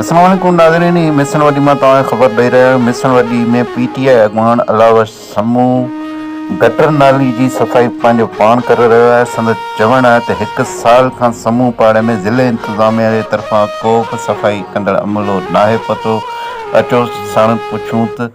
السلام عليڪم ناظرين هي ميسڻ وڏي مان توهان کي خبر ڏئي رهيو آهيان ميسڻ وڏي ۾ پي ٽي آء اڳواڻ علاء بخش سمون گٽر نالي جي صفائي پنهنجو پاڻ ڪري رهيو آهي سندس چوڻ آهي ته هڪ سال کان سمون پاڙي ۾ ضلعي انتظاميا جي طرفان ڪو به صفائي ڪندڙ عملو ناهي پهتو اچو ساڻس پڇون ته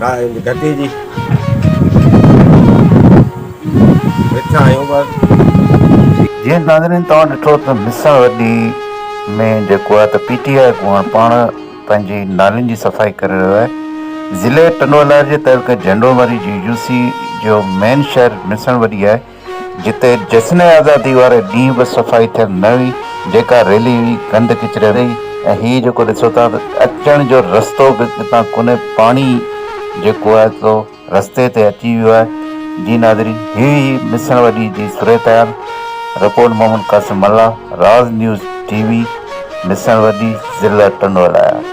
ناهن گهٽي جي ويٺا آهيون بس. جيئن ناظرين توهان ڏٺو ته مصع وڏي ۾ جيڪو آهي ته پي ٽي آء اڳواڻ پاڻ پنهنجي نالين جي صفائي ڪري رهيو آهي ضلعي ٽنڊوالهيار جي تعلقي جهنڊومري جي يو سي جو مين شهر مصع وڏي آهي جتي جشن آزادي واري ڏينهن به صفائي ٿيل نه هئي، جيڪا ريلي هئي گند ڪچري واري هئي ۽ هي جيڪو ڏسو ٿا ته اچڻ جو رستو به اتان ڪونهي پاڻي جيڪو آهي سو رستي تي اچي ويو آهي. جي ناظرين هي هئي مصڻ وڏي جي صورتحال، report Muhammad Qasim Mallah, Raaz news T V, مصڻ وڏي، ضلع ٽنڊولايار.